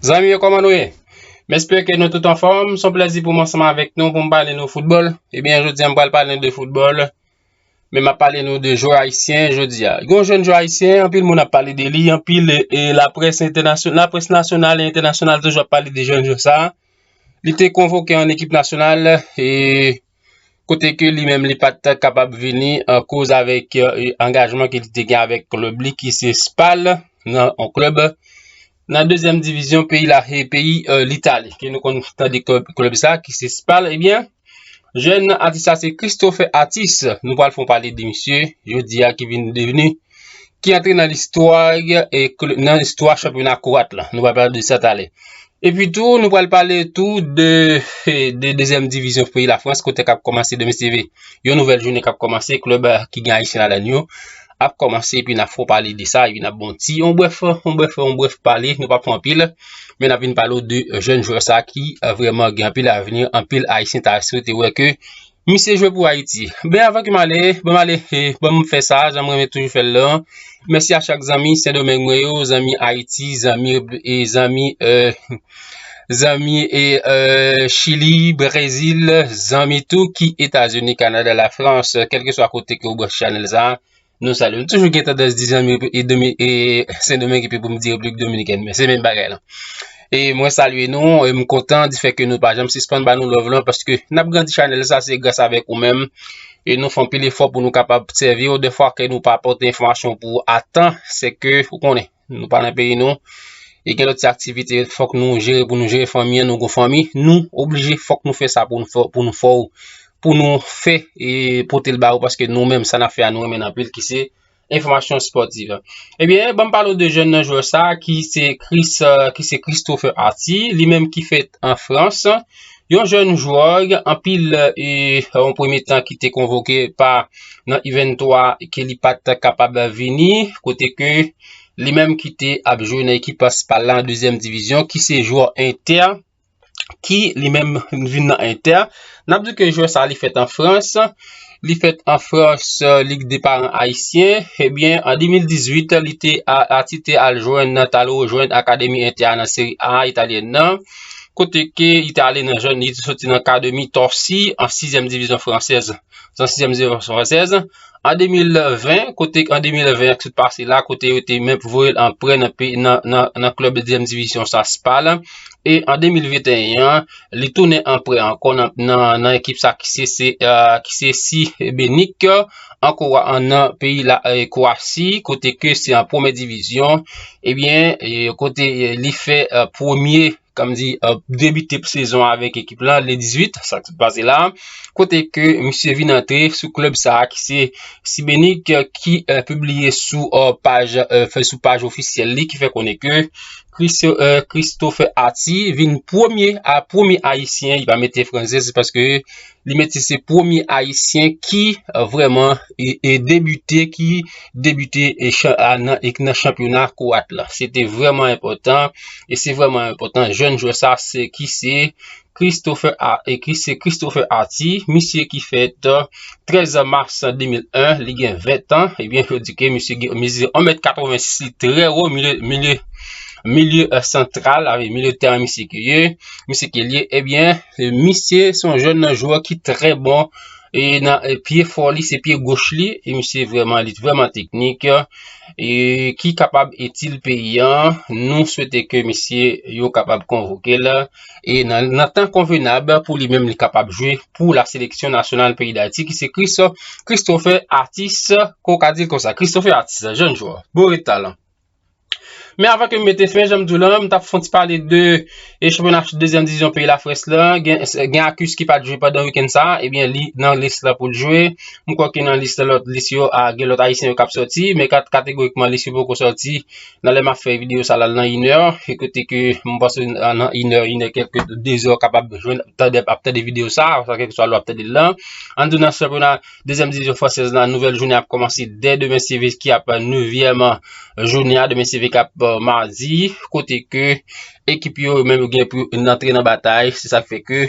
Zanmi yo koman nou ye? M espere ke nou tout anfòm, son plezi pou m ansanm avèk nou pou m pale nou foutbòl. Ebyen, jodi an m pral pale nou de foutbòl. Men map pale nou de jwè ayisyen jodi a. Gon jèn jwè ayisyen, anpil moun ap pale de li, anpil la près entènasyonal, la près nasyonal e entènasyonal toujou ap pale de jèn jwè sa. Li te konvoke an ekip nasyonal e kote ke li menm li pat kapab vini an koz avèk angajman ke li te gen avèk klub li ki se Spal nan an klub. Nan dezyèm divizyon peyi la se peyi Litali ke nou konn tande klèb sa ki se Spal ebyen jèn atis la se Christophe Atis nou pral fon pale de misye jodi a ki vin devni ki antre nan listwa nan listwa chanpyona kouwat la nou pral pale de sa talè epi tou nou pral pale tou de dezyèm divizyon peyi la Frans kote kap kòmanse demen se yon nouvèl jounen kap kòmanse klèb ki gen ayisyen ladan yo ap kòmanse epi nap fè w pale de sa epi nap ba w ti yon brèf, yon brèf, yon brèf pale, nou pap pran anpil men nap vin pale w de jèn jwè sa ki vrèman gen anpil avni, anpil ayisyen ta swete wè ke misye jwe pou Ayiti. Men avan ke m ale, ban m ale, ban m fè sa jan m renmen toujou fè l lan, mèsi a chak zanmi Sendomeng mwen yo, zanmi Ayiti, zanmi, zanmi, eeh. Zanmi e Chili, Brezil, zanmi tou ki Etazini, Kanada, Lafrans, kelke swa kote ke ou branche chanèl sa, nou salye. M toujou gen tandans di zanmi e Sendomeng epi pou m di Repiblik Dominikèn, men se menm bagay lan. E mwen salye nou, e m kontan di fè ke nou pa janm sispann ba nou love lan, paske n ap grandi chanèl sa se gras avèk ou menm, e nou fè anpil efò pou nou kapab sèvi ou, defwa ke nou pa pote enfòmasyon pou ou a tan, se ke ou konnen. Nou pa nan peyi nou E gen lòt ti aktivite fòk nou jere pou nou jere fanmi an Nou gon fanmi Nou oblije fòk nou fè sa pou nou fè Pou nou fè Pou nou fè E pote l ba ou Paske nou menm sa n ap fè a nou renmen l anpil ki se Enfòmasyon spòtiv Ebyen eh ban m pale w de jèn nan jwè sa Ki se Christopher Arthie Li menm ki fèt an Frans Yon jèn jwè anpil e yon premye tan ki te konvoke pa nan U23 ke li pa t kapab vini kote ke li menm ki te ap jwe nan ekip Spal la nan dezyèm divizyon ki se jwè Entè ki li menm vin nan Entè. N ap di ke jwè sa li fèt an Frans. Li fèt an Frans, li gen 2 paran ayisyen. Ebyen, an 2018, li te Ati te al jwenn, te al rejwenn Akademi Entè a nan Seri A italyèn nan, kote ke li te ale nan jèn, li te soti nan Akademi Torcy an sizyèm divizyon fransèz, nan sizyèm divizyon fransèz. An 2020, kote an 2020 an ki sot pase la, kote yo te menm voye l an prè nan klèb dezyèm divizyon sa, Spal. E an 2021 an, Li tounen an prè ankò nan ekip sa ki se Šibenik, nan peyi la Kwasi, kote ke se an premye divizyon, ebyen kote li fè premye, kòm di, debite pou sezon an avèk ekip la, le 18, sa ki sot pase la, kote ke misye vin antre sou klèb sa ki se Šibenik, ki pibliye sou paj ofisyèl li, ki fè konnen ke, Christopher Ati vin premye premye ayisyen li pa mete franse se paske li mete se premye ayisyen ki vreman e debite ki debite e chan a nan e nan chanpyona kowat la se te vreman enpotan e se vreman enpotan jèn jwè sa se ki se Christopher A. Ekri se Christopher Arty, misye ki fèt 13 mars 2001, li gen 20 tan, ebyen eh yo di ke misye gen mezi 1 mèt 86 li trè wo, milye milye santral, avè milye tèren misye ke ye, misye ke liye, ebyen eh misye son jèn nan jwè ki trè bon, e nan pye fò li se pye goch li, e misye vwèman li vwèman teknik, e ki kapab itil peyi an, nou swete ke misye yo kapab konvoke la. E nan tan konvenab pou li menm li kapab jwe pou la seleksyon nasyonal peyi Dayiti ki se Chris Christopher Atis ko ka di l konsa. Christopher Atis, jèn jwè, boure talan. Men avan ke m mete fen, janm di w lan, m tap fon ti pale de e chanpyona dezyèm divizyon peyi Lafrans lan, gen Akus ki pat jwe pandan wikenn sa, ebyen li nan lis la pou l jwe. M kwè ke nan lis la lòt lis yo a gen lòt ayisyen yo kap sòti, men kategorikman lis yo poko sòti. Nan lè map fè video sa la nan inè E kote ke mwen panse nan inè, inè kèlke dezè ou kapab jwenn ap tande video sa Sa kèlke swa lè wap tande l lan An tou nan chanpyona dezyèm divizyon fransèz la Nouvèl jounen ap kòmanse dè demen se ve ki ap nevyèm jounen a Demen se ve kap madi Kote ke ekip yo menm yo gen pou yo antre nan batay Se sak fè ke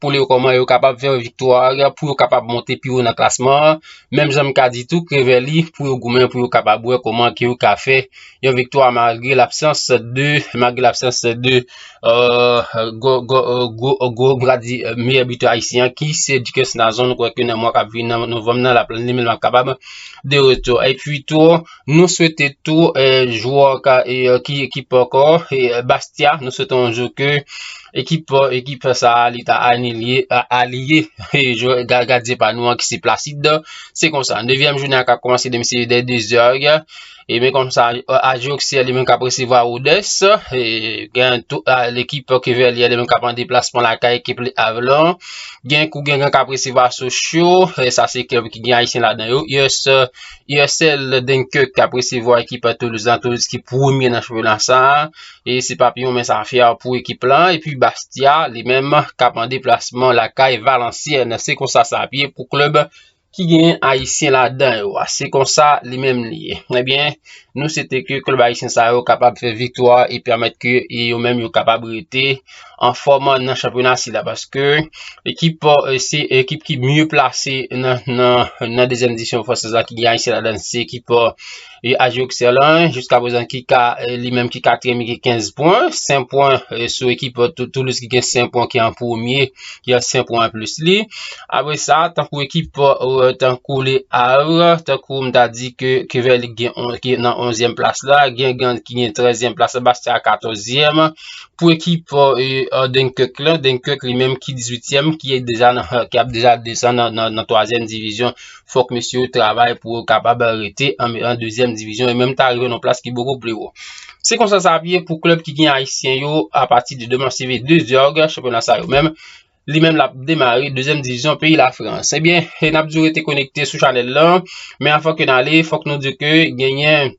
pou li yo kòman yo kapab fè viktwa pou yo kapab monte pi ou nan klasman an. Menm jan m ka di tou Krevèli pou yo goumen pou yo kapab wè kòman ki yo ka fè yon viktwa malgre l'absans de malgre l'absans de gwo bra di meyè bitè ayisyen ki se Dikès Nazon nou kwè ke nan mwa kap vini nan Novanm nan lap li menm lap kapab de retou. E pi tou Nou swete tou jwè ki pa ankò Bastia, nou swete yon jou ke ekip sa a li ta aliye gadyen pa nou an ki se Placide. Se konsa, nevyèm jounen an kap kòmanse demen se dè dezè òg. E men konsa Aji Oksiyè li menm kap resevwa Rodès. Gen tou lekip Kevèliyè li menm kap an deplasman lakay ekip Le Avre lan. Gen Kougengan kap resevwa Sochyo. Sa se klèb ki gen Ayisyen ladan yo. Yrsel Dunkirk kap resevwa ekip Toulouse lan, Toulouse ki premye nan chanpyona sa, e se pap yon mens afè pou ekip lan, epi Bastia li menm kap an deplasman lakay Valenciennes, se konsa sa ap ye pou klub ki gen ayisyen ladan yo, se konsa li menm li ye, ebyen nou swete ke klub ayisyen sa yo kapab fè viktwa e pèmèt ke yo menm yo kapab rete. an fòm nan chanpyona sila paske ekip euh, se ekip ki mye plase nan nan nan dezyèm edisyon fransèz la ki gen Ayisyen ladan se ekip euh, AJ Auxerre jiska prezan ki ka euh, li menm ki katriyèm ki 15 pwen 5 pwen sou ekip Toulouse ki gen 5 pwen ki an premye ki an 5 pwen an plis li apre sa tankou ekip tankou le Havre tankou m ta di ke Kevel ki gen nan 11 plas la gen Gand ki gen 13 plas la Bastia 14 yèm Pou ekip Dunkirk la, Dunkirk li menm ki 18 èm, ki ap deja desan nan 3 èm divizyon, fòk mesye yo travay pou yo kapab rete an 2 èm divizyon, e menm ta rive nan plas ki boko pli wo. Se konsa sa ap ye pou klèb ki gen ayisyen yo a pati de deman se ve 2 zòg chanpyona sa yo menm. Li menm l ap demare 2 èm divizyon peyi la frans. E byen, n ap di w rete konekte sou chanèl lan, men anvan ke n ale, fòk nou di w ke genyen.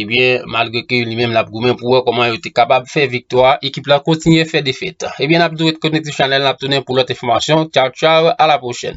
Ebyen malgre ke li menm l ap goumen pou wè kòman yo te kapab fè viktwa, ekip la kontinye fè defèt. Ebyen n ap di ret konekte sou chanèl n ap tounen pou lòt enfòmasyon. Tchaw tchaw a la pwochèn.